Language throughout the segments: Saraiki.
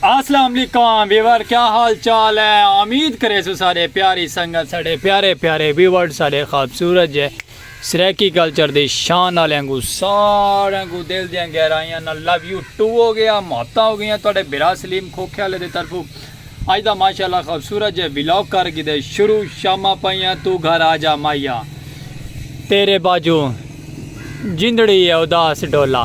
السلام علیکم ویور کیا حال چال ہے امید کرے سو سارے پیاری سنگت سارے پیارے پیارے ویور سارے خوبصورت جے سرائیکی کلچر دی شان آلیاں کوں ساریاں کوں دل دیاں گہرائیاں نال لو یو ٹو ہو گیا محبتاں ہو گئیاں تہاڈے بھرا سلیم کھوکھے آلے دے طرفوں اج دا ماشاءاللہ خوبصورت جیہے ولاگ کر گھدے شروع شاماں پئیاں توں گھر آجا ماہیا تیرے باجوں جندڑی ہے اداس ڈولا۔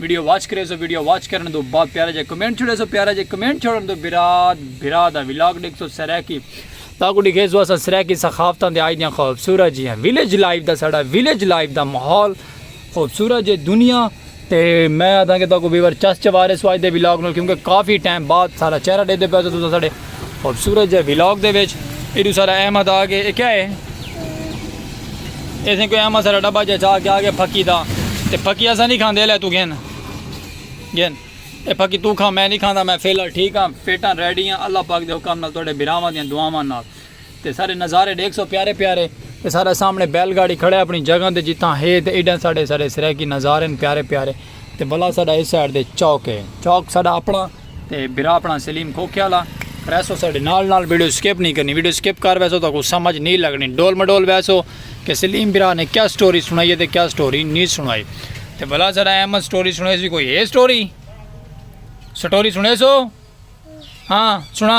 ویڈیو واچ کرے سو ویڈیو واچ کرن دو با پیارا جے کمنٹ چھوڑے سو پیارا جے کمنٹ چھوڑن دو براد براد ہے ویلاگ ڈیکھ سو سریکی تاکو ڈیکھے سو اسا سریکی سخافتان دے آئی دیاں خوبصورت جی ہیں ویلیج لائف دا ساڑا ویلیج لائف دا محول خوبصورت جے دنیا تے میں آدھا کہ تاکو بیور چس چوارے سو آئی دے ویلاگ نو کیونکہ کافی ٹائم بعد سارا چہرہ دے دے پیسے تو ساڑے خوبصورت جے ویلاگ دے وچ ایڈو سارا احمد آ گئے کیا ہے اسیں کوئی احمد سارا ڈبا جا چاہ کے آ گئے پھکی دا تے پھکی اسا نہیں کھاندے لے تو گھن گھن اے پھکی تو کھا میں نہیں کھاندا میں فیلر ٹھیک ہاں پیٹا ریڈی ہاں اللہ پاک دے حکم نال توڑے براواں دیاں دعاواں نال تے سارے نظارے ڈیکھ سو پیارے پیارے تے سارا سامنے بیل گاڑی کھڑے اپنی جگہ دے جتاں ہے تے ایڈا سارے سارے سرے کی نظارے پیارے پیارے تے بلا سارا اس سائڈ دے چوک ہے چوک سارا اپنا تے بھرا اپنا سلیم کھوکھے والا پریس ہو ساڈے نال نال ویڈیو سکپ نہیں کرنی ویڈیو سکپ کر ویسو تو کو سمجھ نہیں لگنی ڈول مڈول ویسو کہ سلیم بھرا نے کیا سٹوری سنائی ہے تے کیا سٹوری نہیں سنائی تے بھلا سارا احمد سٹوری سنے سی کوئی ہے سٹوری سٹوری سنے سو ہاں سنا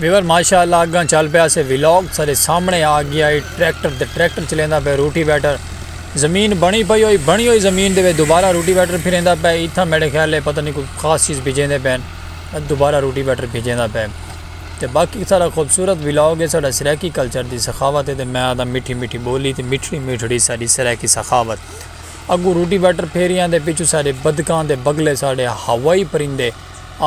ویور ماشاء اللہ اگاں چل پیا سے ولاگ سارے سامنے آ گیا ہے ٹریکٹر تے ٹریکٹر چلیندا پیا روٹی بیٹر زمین بنی پئی ہوئی بنی ہوئی زمین دے دوبارہ روٹی بیٹر پھریندا پیا ایتھا میرے خیال ہے پتہ نہیں کوئی خاص چیز بھیجیندے پین دوبارہ روٹی بیٹر بھیجیندا پیا تے باقی سارا خوبصورت ولاگ ہے سارا سرائیکی کلچر دی سخاوت ہے تے میں آدھا میٹھی میٹھی بولی تے میٹھڑی میٹھڑی ساری سرائیکی سخاوت اگوں روٹی واٹر پھیریاں دے پچھوں ساڈے بدکاں دے بگلے ساڈے ہوائی پرندے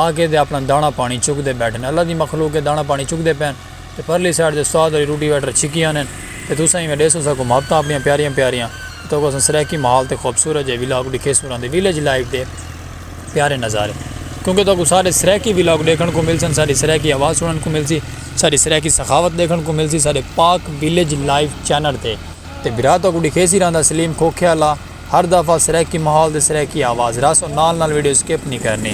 آکے دے اپنا دانہ پانی چک دے بیٹھن اللہ دی مخلوق اے دانہ پانی چک دے پین تے پرلی سائیڈ تے استاد ہوری روٹی واٹر چھکی آنن تے تساں ایویں ڈیسو ساکوں محبتاں اپنیاں پیاریاں پیاریاں تے تہاکوں اساں سرائیکی ماحول تے خوبصورت جئے ولاگ ڈکھیسوں راں دے ویلیج لائف دے پیارے نظارے کیونکہ تہاکوں سارے سرائیکی ولاگ ڈیکھن کوں ملسن ساڈی سرائیکی آواز سنن کوں ملسی ساڈی سرائیکی سخاوت ڈیکھن کوں ملسی ساڈے پاک ویلیج لائف چینل تے۔ تے بھرا تہاکوں ڈکھیسی رہندا سلیم کھوکھے آلا ہر دفعہ سرائیکی ماحول تے سرائیکی آواز رس او نال نال ویڈیو سکپ نی کرنی۔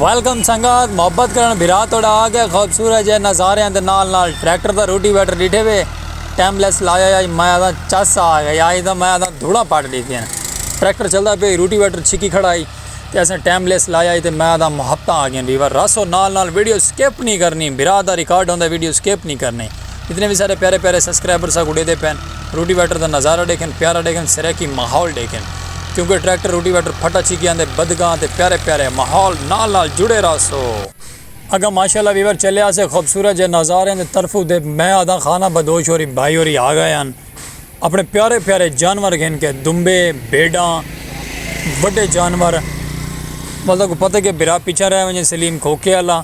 ویلکم سنگت محبت کرن بھرا توڑا آگے خوبصورت جے نظارے ہیں نال نال ٹریکٹر دا روٹی ویٹر ڈیٹھے وے ٹائم لیس لایا یا میں آدھا چس آ گیا یا آدھا میں آدھا دھوڑا پاٹ ڈیٹھے ہیں ٹریکٹر چلدا پہ روٹی ویٹر چھکی کھڑائی تے اسیں ٹائم لیس لایا ہی تے میں دا محبتاں آ گئیں ویور راسو نال نال ویڈیو سکپ نہیں کرنی بھرا دا ریکارڈ ہوندے ویڈیو سکپ نہیں کرنی اتنے بھی سارے پیارے پیارے سبسکرائبر سا گڈے دے پین روٹی ویٹر دا نظارہ دیکھن پیارا دیکھن سریکی ماحول دیکھن کیونکہ ٹریکٹر روٹی ویٹر پھٹا چھی گیا دے بدگاں تے پیارے پیارے ماحول نال نال جڑے راسو اگا ماشاءاللہ ویور چلے آسے خوبصورت جے نظارے دے طرفو دے میں آدھا خانہ بدوش ہو رہی بھائی ہو رہی آ گئے ہیں اپݨے پیارے پیارے جانور گھن کے دمبے بھیݙاں وݙے جانور بندے کوں پتہ کہ بھرا پچھاں رہ ونڄے سلیم کھوکے والا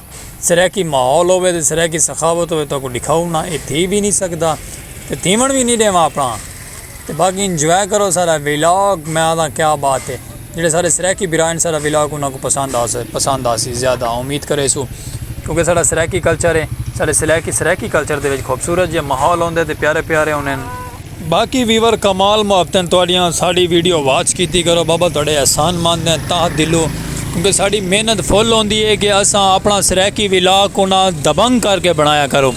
سرائیکی ماحول ہووے تے سرائیکی سخاوت ہووے تو کو ݙکھاؤ نہ اے تھی وی نی سڳدا تے تھیوݨ وی نی ݙیواں اپݨا تے باقی انجوائے کرو سارا ولاگ میں آکھداں کیا بات ہے جیڑھے ساڈے سرائیکی بھرا ہن ساڈا ولاگ انہاں کو پسند آسے پسند آسی زیادہ امید کریسو کیونکہ ساڈا سرائیکی کلچر ہے ساڈے سرائیکی سرائیکی کلچر دے وچ خوبصورت جے ماحول ہوندے تے پیارے پیارے ہوندے ہن باقی ویور کمال محبتیں تہاڈیاں ساڈی ویڈیو واچ کیتی کرو بابا تہاڈے احسان مند ہیں تہہ دلوں کیونکہ ساڈی محنت فل ہوندی ہے کہ اساں اپنا سرائیکی ولاگ کو نہ دبنگ کر کے بنایا کرو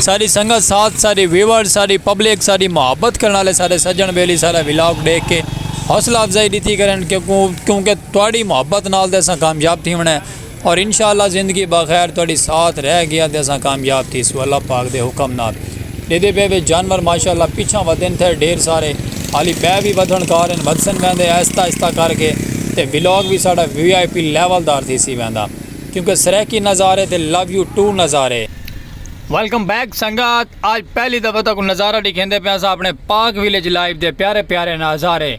ساڈی سنگت ساتھ ساڈی ویور ساڈی پبلک ساڈی محبت کرن والے ساڈے سجن بیلی ساڈا ولاگ ڈیکھ کے حوصلہ افزائی ڈتی کرن کیونکہ تہاڈی محبت نال تے اساں کامیاب تھیونڑاں ہے اور انشاءاللہ زندگی باخیر تہاڈی ساتھ رہ گیا تے اساں کامیاب تھیسوں اللہ پاک دے حکم نال ڈیدھے پئے وچ جانور ماشاءاللہ پچھاں ودھن تھے ڈھیر سارے حالی پئے وی ودھن کار ہن ودھسن ویندے آہستہ آہستہ کر کے تے ولاگ وی ساڈا وی آئی پی لیول دار تھیسی ویندا کیونکہ سرائیکی نظارے تے لو یو ٹو نظارے۔ ویلکم بیک سنگت آج پہلی دفعہ تہاکوں نظارہ ڈکھیندے پیاساں اپنے پاک ویلیج لائیو دے پیارے پیارے ناظارے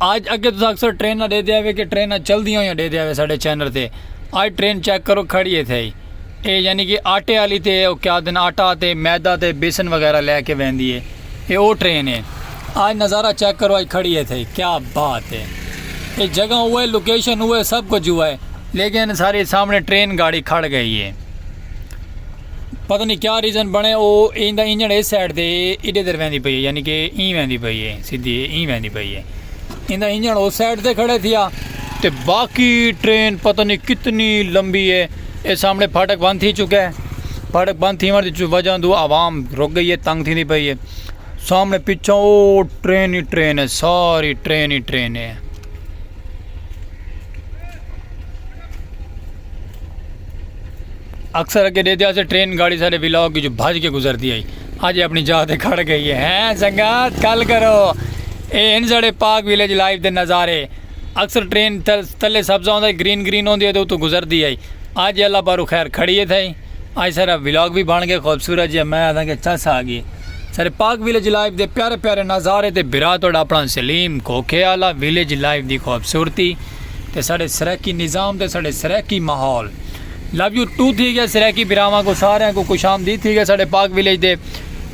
آج اگے تساں اکثر ٹریناں ڈیدھے آوے کہ ٹریناں چلدیاں ہویاں ڈیدھے آوے ساڈے چینل تے آج ٹرین چیک کرو کھڑی ہے تھئی اے یعنی کہ آٹے والی تے او کیا دن آٹا تے میدا تے بیسن وغیرہ لے کے ویندی ہے اے او ٹرین ہے آج نظارہ چیک کرو آج کھڑی ہے تھئی کیا بات ہے اے جگہ ہوئے لوکیشن ہوئے سب کچھ ہوا ہے لیکن ساری سامنے ٹرین گاڑی کھڑ گئی ہے پتہ نہیں کیا ریزن بنے او ایندا انجن اس سائیڈ تے ایڈے در ویندی پئی ہے یعنی کہ این ویندی پئی ہے سیدھی این ویندی پئی ہے ایندا انجن اس سائیڈ تے کھڑے تھیا تے باقی ٹرین پتہ نہیں کتنی لمبی ہے اے سامنے پھاٹک بند تھی چکا ہے پھاٹک بند تھی ون دی وجہ دو عوام رک گئی ہے تنگ تھی دی پئی ہے سامنے پیچھے او ٹرین ہی ٹرین ہے ساری ٹرین ہی ٹرین ہے اکثر اگے ڈیدھیا سے ٹرین گاڑی ساڈے ولاگ وچوں بھج کے گزردی ہئی اج اپنی جاہ تے کھڑ گئی ہے ہیں سنگت کل کرو اے ہن ساڈے پاک ویلیج لائیو دے نظارے اکثر ٹرین تلے سبزہ ہوندا ہے گرین گرین ہوندی ہے تے اتوں گزردی ہے اج اللہ پارو خیر کھڑی ہے تھئی اج سارا ولاگ بھی بن گیا خوبصورت جی میں آدھا کہ چس آ گئی سارے پاک ویلیج لائیو دے پیارے پیارے نظارے تے برا تھوڑا اپنا سلیم کوکھے والا ویلیج لائیو دی خوبصورتی تے سارے سرکی نظام تے سارے سرکی ماحول لو یو ٹو تھی گیا سرائیکی براواں کو سارے کو خوش آمدید تھی گیا ساڈے پاک ویلیج دے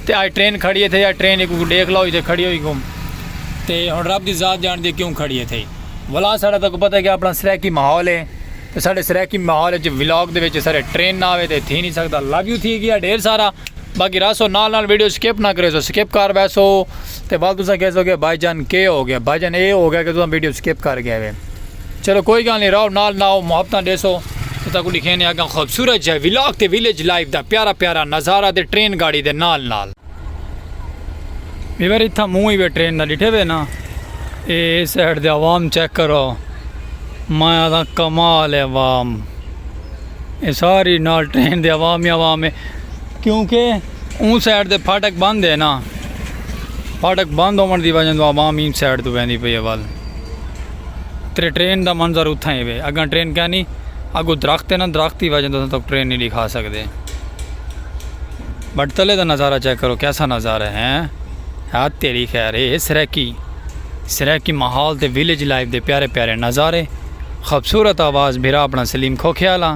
تے آج ٹرین کھڑی ہے تھے یا ٹرین کو دیکھ لو تے کھڑی ہوئی گم تے ہن رب دی ذات جان دی کیوں کھڑی ہے تھے ولا ساڈا تک پتہ ہے کہ اپنا سرائیکی ماحول ہے تے ساڈے سرائیکی ماحول وچ ولاگ دے وچ سارے ٹرین نہ آوے تے تھی نہیں سکدا لو یو تھی گیا ڈھیر سارا باقی راسو نال نال ویڈیو سکپ نہ کرے سو سکپ کر ویسو تے بعد تساں کہہ سو کہ بھائی جان کے ہو گیا بھائی جان اے ہو گیا کہ تساں ویڈیو سکپ کر گئے چلو کوئی گال نہیں راؤ نال ناؤ محبتاں ڈیسو تے تاکو ڈکھینے اگاں خوبصورت جے ولاگ تے ویلیج لائف دا پیارا پیارا نظارہ تے ٹرین گاڑی دے نال نال۔ ویور اتھاں منہ ہی وے ٹرین دا ڈٹھے وے نا اے سائیڈ دے عوام چیک کرو میں آدھا کمال ہے عوام اے ساری نال ٹرین دے عوام ہی عوام ہے کیونکہ اون سائیڈ دے پھاٹک بند ہے نا پھاٹک بند ہومن دی وجہ دو عوام ہی سائیڈ دو ویندی پئی ہے وال۔ تیرے ٹرین دا منظر اتھاں ہی وے اگاں ٹرین کینی اگو درخت ہے نا درخت دی وجہ توں تک ٹرین نہیں دکھا سکدے بٹ تلے دا نظارہ چیک کرو کیسا نظارہ ہے ہاں تیری خیر ہے سریکی سریکی ماحول تے ویلیج لائف دے پیارے پیارے نظارے خوبصورت آواز بھرا اپنا سلیم کھوکھیالا